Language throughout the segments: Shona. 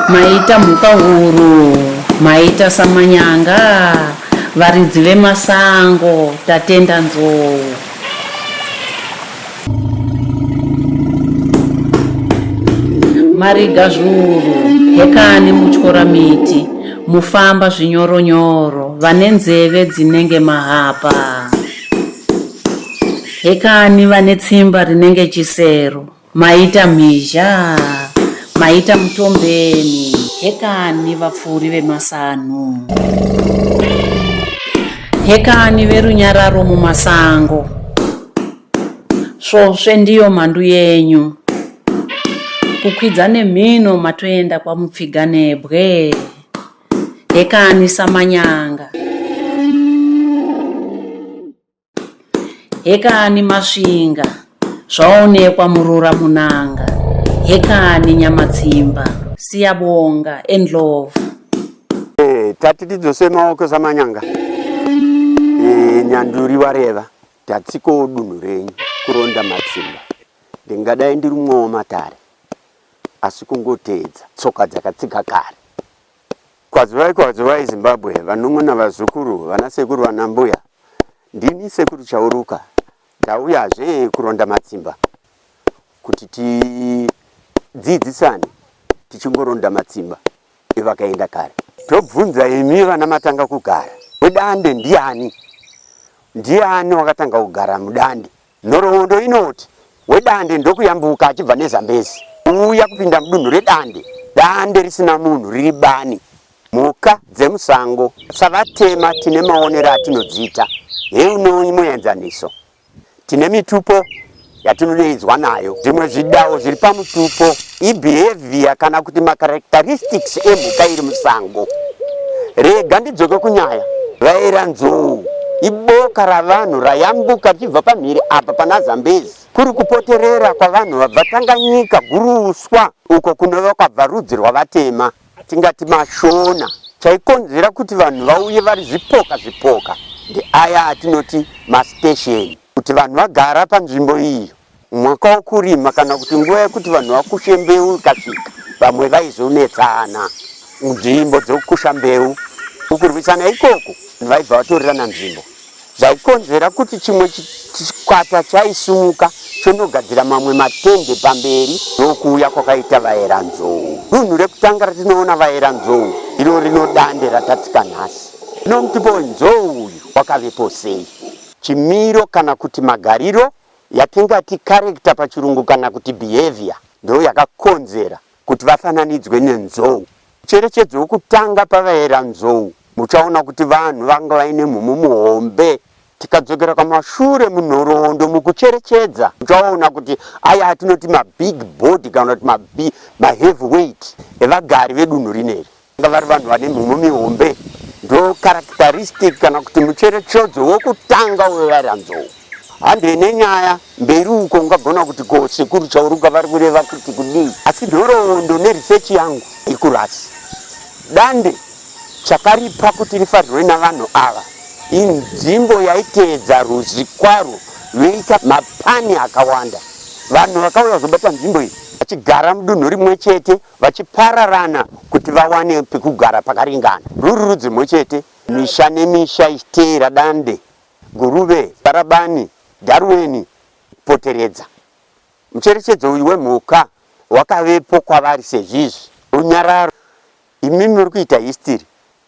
maita mhuka huru maita samanyanga varidzi vemasango tatenda nzou mariga zvuru hekani mutyora miti Mufamba zvinyoro nyoro vane nzeve dzinenge mahapa. Hekani vane tsimba rinenge chisero. Maita mhizha, maita mutombeni. Hekani vapfuuri vemasanhu. Hekani verunyararo mumasango. Svosve ndiyo mhandu yenyu. Kukwidza nemhino matoenda kwamupfiga nebwe. Hekani samanyanga. Hekani masvinga. Zvaonekwa murura munanga. Hekani nyamatsimba. Siyabonga and love. Eh, tati tidzose maoko samanyanga. Eh, nyanduri wareva. Tatsikawo dunhu renyu kuronda matsimba. Ndingadai ndiri mumwe wamatare asi kungoteedza tsoka dzakatsiga kare. Kwazuvai kwazuvai Zimbabwe, vanun'una vazukuru, vanasekuru vanambuya, ndini Sekuru Chauruka ndauyazve kuronda matsimba kuti tidzidzisane tichingoronda matsimba. Dai vakaenda kare. Tobvunza imi vana matanga kugara mudande ndiani? Ndiani wakatanga kugara mudande? Nhoroondo inoti wedande ndokuyambuka achibva neZambezi kuuya kupinda mudunhu redande. Dande risina munhu riri bani. Mhuka dzemusango savatema tine maonero atinodziita. Heino imwe enzaniso. Tine mitupo yatinoneidzwa nayo. Zvimwe zvidawo zviri pamutupo ibehavior kana kuti macharacteristics emhuka iri musango. Rega ndidzoke kunyaya. Vaera nzou iboka ravanhu rayambuka richibva pamhiri apa pana Zambezi kuri kupoterera kwavanhu vabva Tanganyika, Guruswa, uko kunova kwabva rudzi rwavatema. atingati mashona chaikonzera kuti vanhu vauye vari zvipoka zvipoka ndeaya atinoti mastesheni kuti vanhu vagara panzvimbo iyo mwaka wokurima kana kuti nguva yekuti vanhu vakushe mbeu ikasvika vamwe vaizonetsana nzvimbo dzokusha mbeu ukurwisana ikoko vaibva vatorerana nzvimbo zvaikonzera kuti chimwe chikwata chaisimuka chonogadzira mamwe matende pamberi nokuuya kwakaita vaera nzou. Dunhu rekutanga ratinoona vaera nzou iro rino dande ratatsika nhasi. Zvino mutupo wenzou uyu wakavepo sei? Chimiro kana kuti magariro yatingati character pachirungu kana kuti behaviour ndoo yakakonzera kuti vafananidzwe nenzou. Cherechedzo yokutanga pavayera nzou, muchaona kuti vanhu vanga vaine mhumo muhombe. Tikadzokera kwamashure munhoroondo mukucherechedza, muchaona kuti aya atinoti mabig body kana kuti maheavy weight evagari vedunhu rineri. Vanga vari vanhu vane mhumho mihombe, ndo characteristic kana kuti mucherechedzo wokutanga wevaranzou. Handei nenyaya mberi uko ungagona kuti ko sekuru Chauruka vari kureva kuti kudii, asi nhoroondo neresearch yangu iri kurasi dande chakaripa kuti rifarirwe navanhu ava inzvimbo yaiteedza ruzvi kwaro veika mapani akawanda vanhu vakauya kuzobata nzvimbo iyi vachigara mudunhu rimwe chete vachipararana kuti vawane pekugara pakaringana. Ruri rudzi rumwe chete, misha nemisha ichiteera dande, guruve, barabani, daruweni, poteredza. Mucherechedzo uyu wemhuka wakavepo kwavari sezvizvi. Runyararo, Imimi muri kuita history.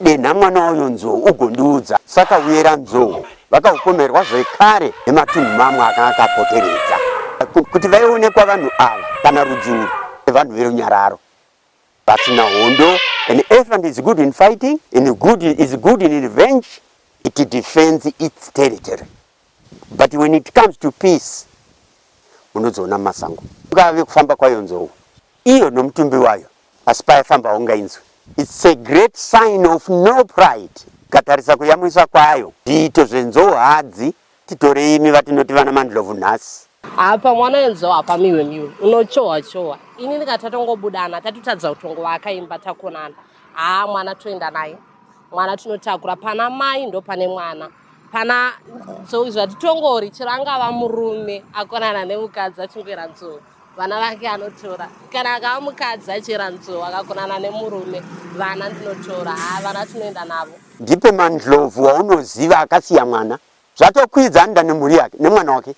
Denha mwana wayo Nzou ugondiudza. Saka uyera Nzou vakaupomerwa zvekare nematunhu mamwe akanga akapoteredza kuti vaionekwa vanhu ava kana rudzi urwu evanhu verunyararo vasina hondo. An elephant is good in fighting and good is good in revenge. It defends its territory. but when it comes to peace munodziona mumasango ungave kufamba kwayo nzou iyo nomutumbi wayo asi payafamba haungainzwi its a great sign of no pride katarisa kuyamwisa kwayo zviito zvenzou hadzi titorei imi vatinoti vana mandlovu nhasi apa mwana wenzou hapamiwe miwe unochohwa chohwa ini ndikati tatongobudana tatotadza kutongovaka imba takonana haa mwana toenda naye mwana tinotakura pana mai ndo pane mwana pana so izvi hatitongori chero angava murume akonana nemukadzi achingoera nzou vana vake anotora kana akava mukadzi achiera nzou akakonana nemurume vana ndinotora haa vana tinoenda navo ndipo mandlovu waunoziva akasiya mwana zvatokwidza anoda nemhuri yake nemwana wake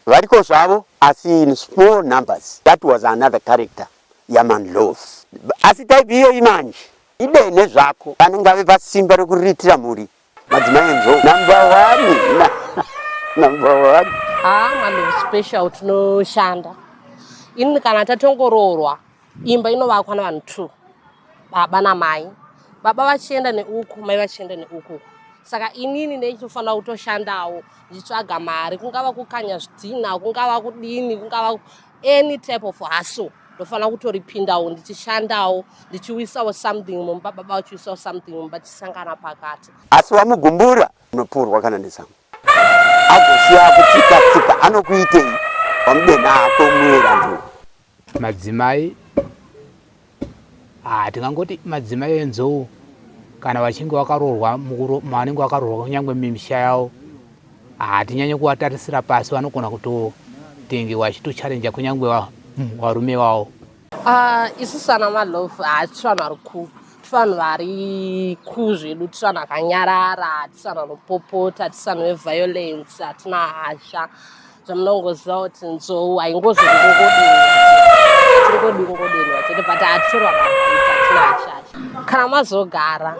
variko zvavo asi in small numbers that was another character yamandlovu asi type iyoyi manje Idei nezvako vana ngave pasimba rekuriritira mhuri madzimai nzou number one number one haa ah, mwana special tinoshanda ini kana tatongoroorwa imba inovakwa navanhu two baba namai baba vachienda neuku mai vachienda neuku saka inini ndeitofanira kutoshandawo ndichitsvaga mari kungava kukanya zvidhina kungava kudini kungava any type of hustle ndofanira kutoripindawo ndichishandawo ndichiwisawo something mumba baba vachiwisawo something mumba tichisangana pakati asi wamugumbura unopurwa kana nezamu agosiya kutsika tsika anokuitei wamudenha ako muerandu madzimai Ah, tingangoti madzimai enzou kana vachinge vakaroorwa mavanenge vakaroorwa kunyange mimisha yavo hatinyanye ah, kuvatarisira pasi vanogona kutotenge vachitocharenja kunyange varume vavo ah, isu sana malove hatisi vanhu vari ku tivanhu vari ku zvedu tivanhu akanyarara tivanhu anopopota tivanhu veviolence hatina hasha zvamunongoziva kuti nzou haingozodingodinwa chete but hatitorwa kana mazogara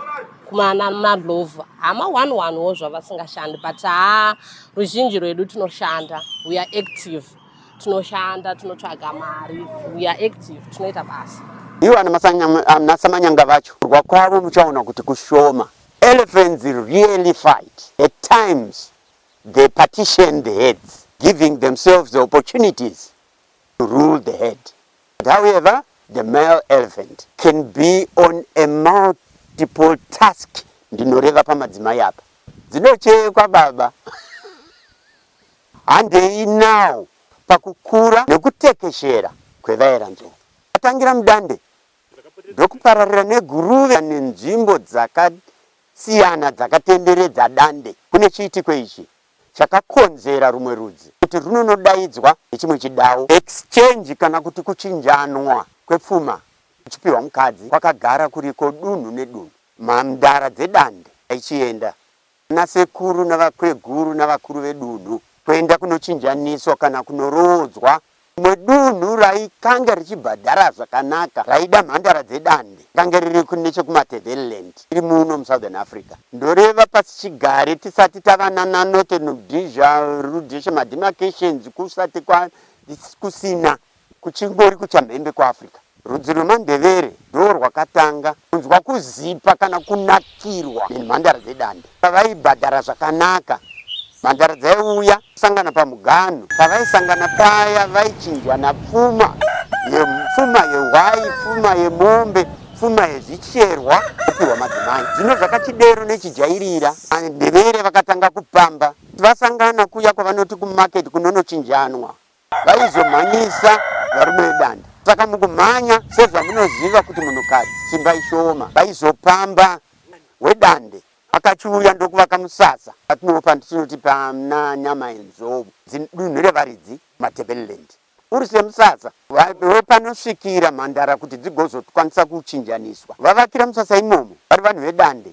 kumana madlovha hama one one wo zvavasingashandi but haa ruzhinji rwedu tinoshanda we are active tinoshanda tinotsvaga mari we are active tinoita basa ivo anasamanyanga vacho kurwa kwavo muchaona kuti kushoma elephants really fight at times the partitioned heads giving themselves the opportunities to rule the head. But however, the male elephant can be on a multiple task ndinoreva pamadzimai apa dzinochekwa baba handei now pakukura nekutekeshera kwevaera nzou atangira mudande ndokupararira neguruve nenzvimbo dzakasiyana dzakatenderedza Dande kune chiitiko ichi chakakonzera rumwe rudzi kuti rwunonodaidzwa nechimwe chidawo. Exchange kana kuti kuchinjanwa kwepfuma kuchipiwa mukadzi kwakagara kuriko dunhu nedunhu. Mhandara dzeDande dzaichienda Vanasekuru navakweguru navakuru vedunhu kuenda kunochinjaniswa kana kunoroodzwa rimwe dunhu raikange richibhadhara zvakanaka raida mhandara dzedande rakange riri nechekuMatabeleland tiri muno muSouthern Africa ndoreva pasichigare tisati tava nanaNorthern Rhodesia Rhodesia mademarcations kusati kusina Kuchingori kuchamhembe kweAfrica, rudzi rwemaNdevere ndorwakatanga kunzwa kuzipa kana kunakirwa nemhandara dzedande. Pavaibhadhara zvakanaka, mhandara dzaiuya kusangana pamuganhu. Pavaisangana paya vaichinjwana pfuma yepfuma yehwai, pfuma yemombe, pfuma yezvicherwa vopihwa madzimai. Zvino zvakachidero nechijairira, maNdevere vakatanga kupamba. Vasangana kuya kwavanoti kumarket kunonochinjanwa vaizomhanyisa varume vedanda saka mukumhanya sezvamunoziva kuti munhukadzi simba ishoma vaizopamba wedande akachiuya ndokuvaka musasa patinopa ndichinoti pana nyama yenzou dunhu revaridzi matebeleland uri semusasa wepanosvikira mhandara kuti dzigozokwanisa kuchinjaniswa vavakira musasa imomo vari vanhu vedande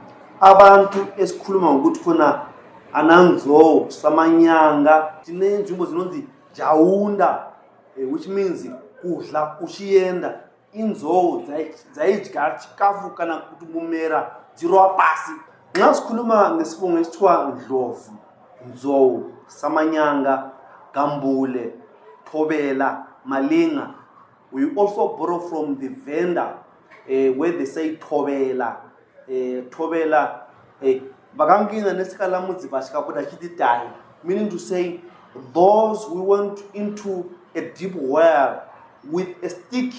Abantu esikhuluma ngokuti khona ananzou samanyanga tine nzvimbo zinonzi jaunda eh, which means kudla uchienda inzou dzaidya chikafu kana kuti mumera dzirova pasi nxa sikhuluma ngesibongo esithiwa ndlovu nzou samanyanga gambule thobela malinga we also borrow from the vendor uh, where they say thobela eh, Tobela eh, vakangina nesikalamudzi vasvika kuda chiti tai meaning to say those who went into a deep well with a stick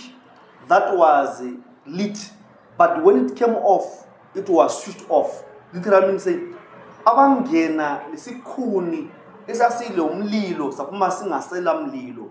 that was lit but when it came off it was switched off literally meaning say abangena nesikhuni esasile umlilo saphuma singasela mlilo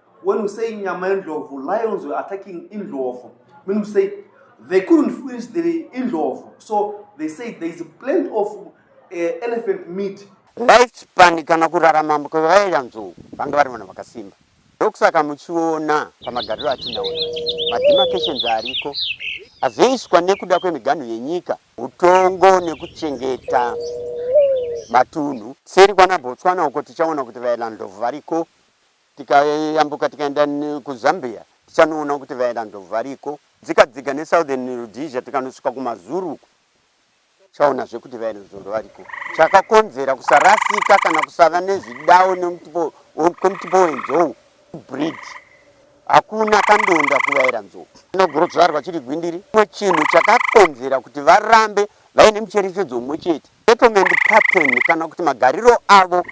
When you say nyama yendlovu, lions were attacking indlovu. When you say they couldn't finish the indlovu, so they say there is plenty of uh, elephant meat. Life span kana kurarama kwevaya nzou vanga vari vanhu vakasimba ndokusaka muchiona pamagariro atinaona mademarcations ariko azoiswa nekuda kwemiganhu yenyika utongo nekuchengeta matunhu seri kwana botswana uko tichaona kuti vaelandlovu variko Tikayambuka tikaenda kuZambia tichanoona kuti vaera ndhou variko. Dzika dzika neSouthern Rhodesia tikanosvika kumaZulu uko tichaonazve kuti vaera ndhou variko. Chakakonzera kusarasika kana kusava nezvidao nemutupo kwemutupo wenzou kubreed hakuna kandonda kuvaera nzou. Chinogorodzvarwa chiri gwindiri. Chimwe chinhu chakakonzera kuti varambe vaine mucherechedzo umwe chete. Settlement pattern kana kuti magariro avo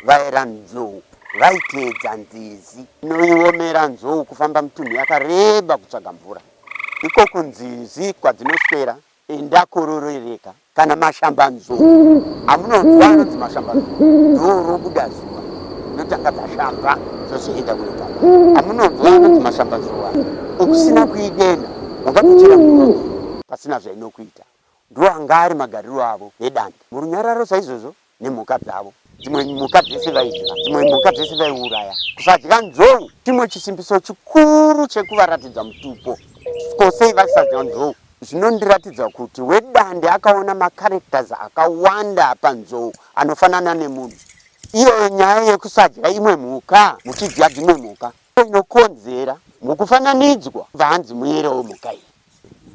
vaera nzou vaiteedza nzizi inoiomera nzou kufamba mitunhu yakareba kutsvaga mvura. Iko kunzizi kwadzinoswera enda kororereka kana mashambanzou amunonzwa anonzi mashambanzou ndorobuda zuva dzinotanga dzashamba dzozoenda kunotanga amunonzwa anonzi mashambanzou aya ukusina kuidenha ungatochera muromo pasina zvainokuita Ndoanga ari magariro avo nedande murunyararo saizvozvo nemhuka dzavo. Dzimwe mhuka dzese vaidya, dzimwe mhuka dzese vaiuraya. Kusadya nzou chimwe chisimbiso chikuru chekuvaratidza mutupo. Ko sei vasadya nzou? Zvinondiratidza kuti wedande akaona macharacters akawanda panzou anofanana nemunhu. Iyoyo nyaya yekusadya imwe mhuka muchidya dzimwe mhuka Inokonzera mukufananidzwa vahanzi muyere wemhuka iyi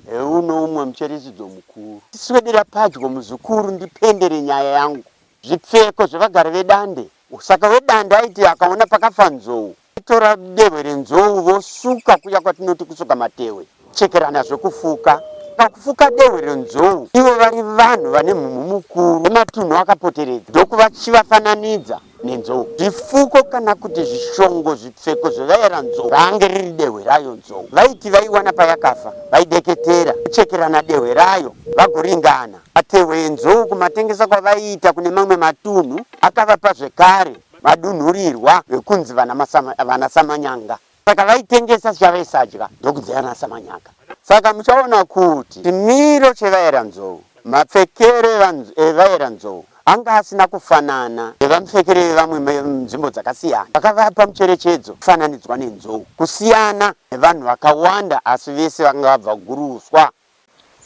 heuno umwe mucherechidzo mukuru. Tiswedera padyo muzukuru ndipendere nyaya yangu. Zvipfeko zvevagari vedande. Saka wedande aiti akaona pakafa nzou, vaitora dehwe renzou vosuka kuya kwatinoti kusuka matewe. Chekerana zvekufuka pakufuka dehwe renzou ivo vari vanhu vane mhumhu mukuru nematunhu akapoteredza ndokuvachivafananidza nenzou. Zvifuko kana kuti zvishongo zvipfeko zvevaera nzou raange riri dehwe rayo nzou vaiti vaiwana payakafa vaideketera kuchekerana dehwe rayo vagoringana matehwe enzou kumatengesa kwavaiita kune mamwe matunhu akavapa zvekare madunhurirwa vekunzi vana Samanyanga. Saka vaitengesa zvavaisadya ndokudzeyana samanyaka. Saka muchaona kuti chimiro chevaera nzou, mapfekero evaera nzou anga asina kufanana nevamupfekero evamwe munzvimbo dzakasiyana. Vakavapa mucherechedzo kufananidzwa nenzou kusiyana nevanhu vakawanda asi vese vanga vabva kuGuruswa.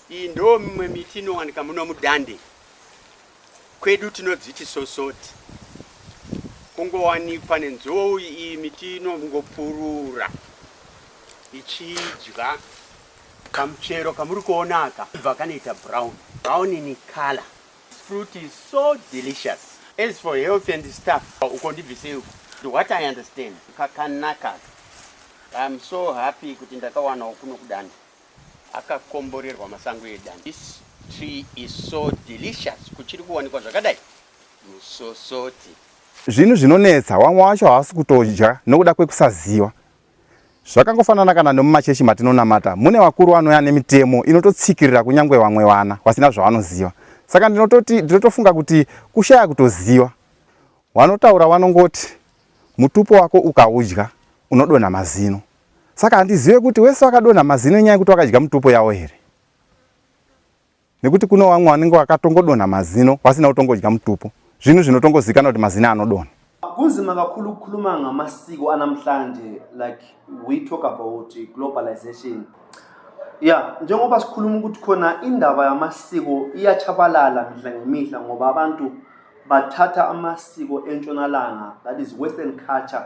Iyi ndoo mimwe miti inowanika muno mudande kwedu tinodziti sosoti kungowanikwa nenzou iyi miti inongopurura ichidya kamuchero kamuri kuona aka ibva kanoita brown brown in color This fruit is so delicious as for health and stuff uko ndibvisei uko to what i understand kakanaka i'm so happy kuti ndakawanawo kuno kudande akakomborerwa masango edan this tree is so delicious kuchiri kuwanikwa zvakadai musosoti zvinhu zvinonetsa wamwe wacho havasi kutodya nokuda kwekusaziva zvakangofanana kana nomumachechi matinonamata mune vakuru vanouya nemitemo inototsikirira kunyange vamwe vana vasina zvavanoziva saka ndinototi ndinotofunga kuti kushaya kutoziva wanotaura wanongoti mutupo wako ukaudya unodonha mazino Saka handizive kuti wese wakadonha mazino inyaya yekuti wakadya mutupo yawo here? Nekuti kuno wamwe wanenge wakatongodonha mazino wasina kutongodya mutupo. Zvinhu zvinotongozikana kuti mazino anodonha. Kunzima kakhulu ukukhuluma ngamasiko anamhlanje like we talk about globalization. Yeah, njengoba sikhuluma ukuthi khona indaba yamasiko iyachabalala mihla ngemihla ngoba abantu bathatha amasiko entshonalanga that is western culture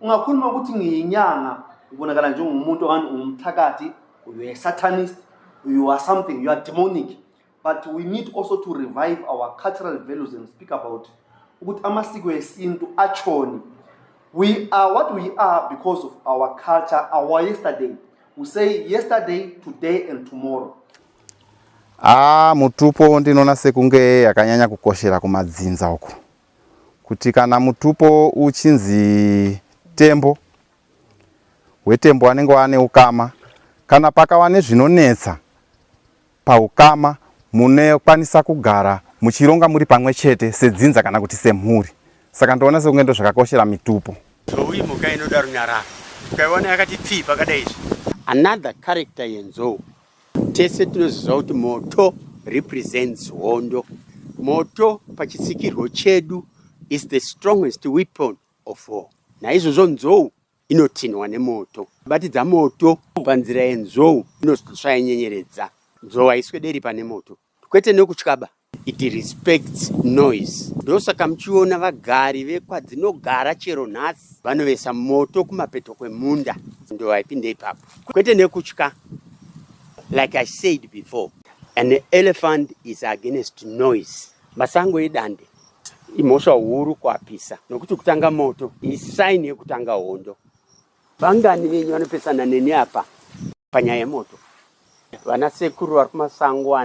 ungakhuluma ukuthi ngiyinyanga ubonakala njengomuntu okanye ungumthakathi you are satanist you are something you are demonic but we need also to revive our cultural values and speak about ukuthi amasiko esintu atshoni we are what we are because of our culture our yesterday we say yesterday today and tomorrow ah mutupo ndinoona sekunge yakanyanya kukoshera kumadzinza uko kuti kana mutupo uchinzi tembo hwetembo wanenge wane ukama kana pakava nezvinonetsa paukama munokwanisa kugara muchironga muri pamwe chete sedzinza kana kuti semhuri saka ndoona sekunge ndo zvakakoshera mitupo zvoui mhuka inoda runyararo ukaiona yakati pfii pakadai izvi another character yenzou Tese tinozviziva kuti moto represents hondo. Moto pachitsikirwo chedu is the strongest weapon of war. Naizvozvo nzou inotinhwa nemoto. Batidza moto panzira yenzou inoshaya nyenyeredza. Nzou haiswederi pane moto. kwete nekutyaba it respects noise ndosaka muchiona vagari vekwadzinogara chero nhasi vanovesa moto kumapeto kwemunda ndovaipinda ipapo kwete nekutya like i said before an elephant is against noise masango edande imhosva huru kuapisa nokuti kutanga moto isaini yekutanga hondo Vangani venyu vanopesana neni apa panyaya yemoto? Vana sekuru vari kumasango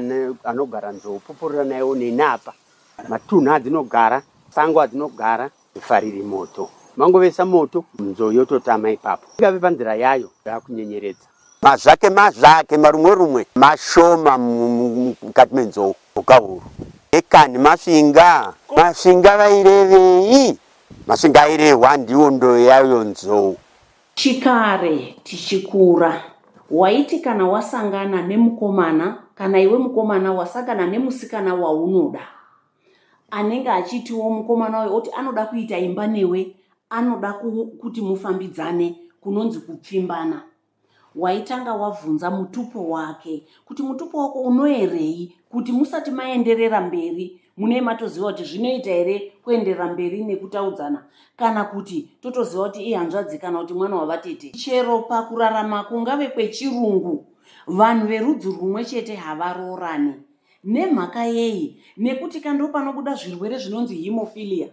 anogara nzou pupurira naiwo neni apa. Matunhu adzinogara, sango adzinogara, fariri moto. Mangovesa moto, nzou yototama ipapo. Ingave panzira yayo yakunyenyeredza. Mazvake mazvake marumwe rumwe mashoma mukati menzou. Ukahuru. Ekani masvinga. Masvinga vairevei? Masingairehwa ndiwo ndoyo yayo nzou. Chikare tichikura waiti kana wasangana nemukomana kana iwe mukomana wasangana nemusikana waunoda anenge achitiwo mukomana uyo oti anoda kuita imba newe anoda kuti mufambidzane kunonzi kupfimbana waitanga wavhunza mutupo wake kuti mutupo wako unoerei kuti musati maenderera mberi munei matoziva kuti zvinoita here kuenderera mberi nekutaudzana kana kuti totoziva kuti ihanzvadzi kana kuti mwana wavatete chero pakurarama kungave kwechirungu vanhu verudzi rumwe chete havaroorani nemhaka yei nekuti kando panobuda zvirwere zvinonzi hemofilia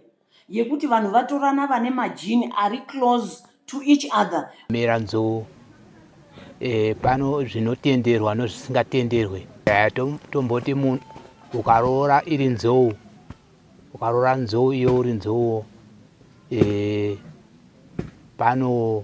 yekuti vanhu vatorana vane majini ari close to each other mera nzou e, pano zvinotenderwa nozvisingatenderwe e, tomboti munhu ukaroora iri nzou ukaroora nzou iyo uri nzouwo e, pano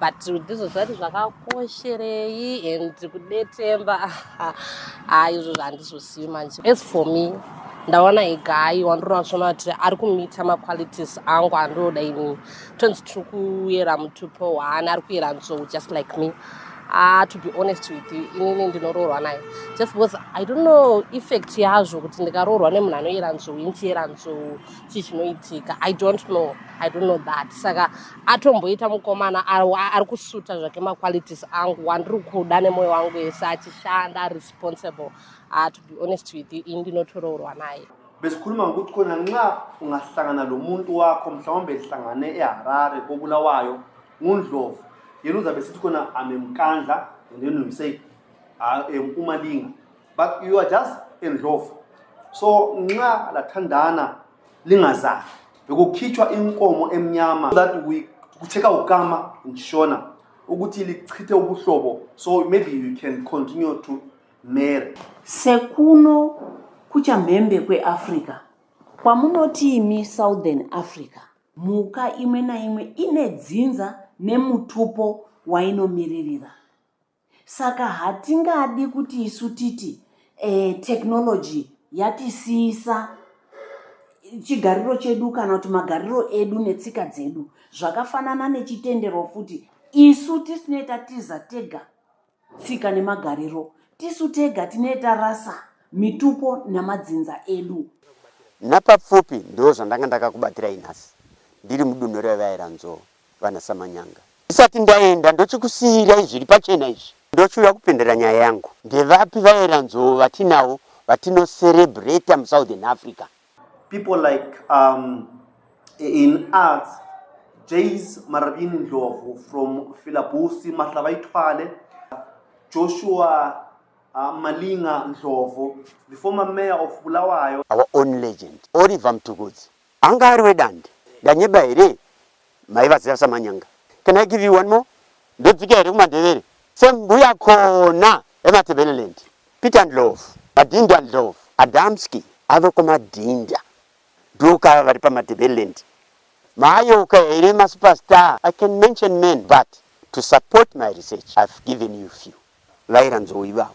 but ndizvo zvati zvakakosherei and kudetemba haa izvo zvandizvosiyi manje as for me ndaona igai wandinoona zviona kuti ari kumita maqualities angu andinoda ini tonzi tiri kuyera mutupo waani ari kuyera nzou just like me Ah, to be honest with you inini ndinoroorwa naye just because i don't know effect yazvo kuti ndikaroorwa nemunhu anoyera nzou inchiyera nzou chii chinoitika i don't know i don't know that saka atomboita mukomana ari ari kusuta zvake maqualities angu wandiri kuda nemoyo wangu yese achishanda ari responsible uh, to be honest with you ini ndinotoroorwa naye besikhuluma ngokuthi khona nxa ungahlangana lo muntu wakho mhlawumbe ehlangane eharare kobulawayo ngundlovu yena uzabe sithi khona i'm emkandla and then we say ah, um, umalinga but you are just endlovu so nxa lathandana lingazali bekukhitshwa inkomo emnyama that we kucheka ukama ngishona ukuthi lichithe ubuhlobo so maybe you can continue to marry sekuno kuchamhembe kweafrica kwamunoti imi southern africa mhuka imwe naimwe ine dzinza nemutupo wainomiririra Saka hatingadi kuti isu titi eh, technology yatisiyisa chigariro chedu kana kuti magariro edu netsika dzedu zvakafanana nechitendero futi isu tisinoita tiza tega tsika nemagariro tisu tega tinoita rasa mitupo namadzinza edu napapfupi ndoo zvandanga ndakakubatirai nhasi ndiri mudunhu revaira nzoo vana Samanyanga. Ndisati ndaenda ndochikusiirai zviri pachena izvi. Ndochiuya kupindira nyaya yangu. Ndevapi vaera nzou vatinavo vatino celebrater mu Southern Africa? People like um, in arts, Jays Marabini Ndlovu from Filabusi, Mahlavaithwale, Joshua uh, Malinga Ndlovu, the former mayor of Bulawayo. Our own legend, Oliver Mtukudzi, Anga ari wedande ndanyeba here maivaziva samanyanga can I give you one more ndodzika here kumandevere sembuya kona ematebeleland Peter Ndlovu madinda Ndlovu Adamski ave kumadinda ndokava vari pamatebeleland maayoka here masuperstar I can mention men but to support my research I've given you few vairanzou ivavo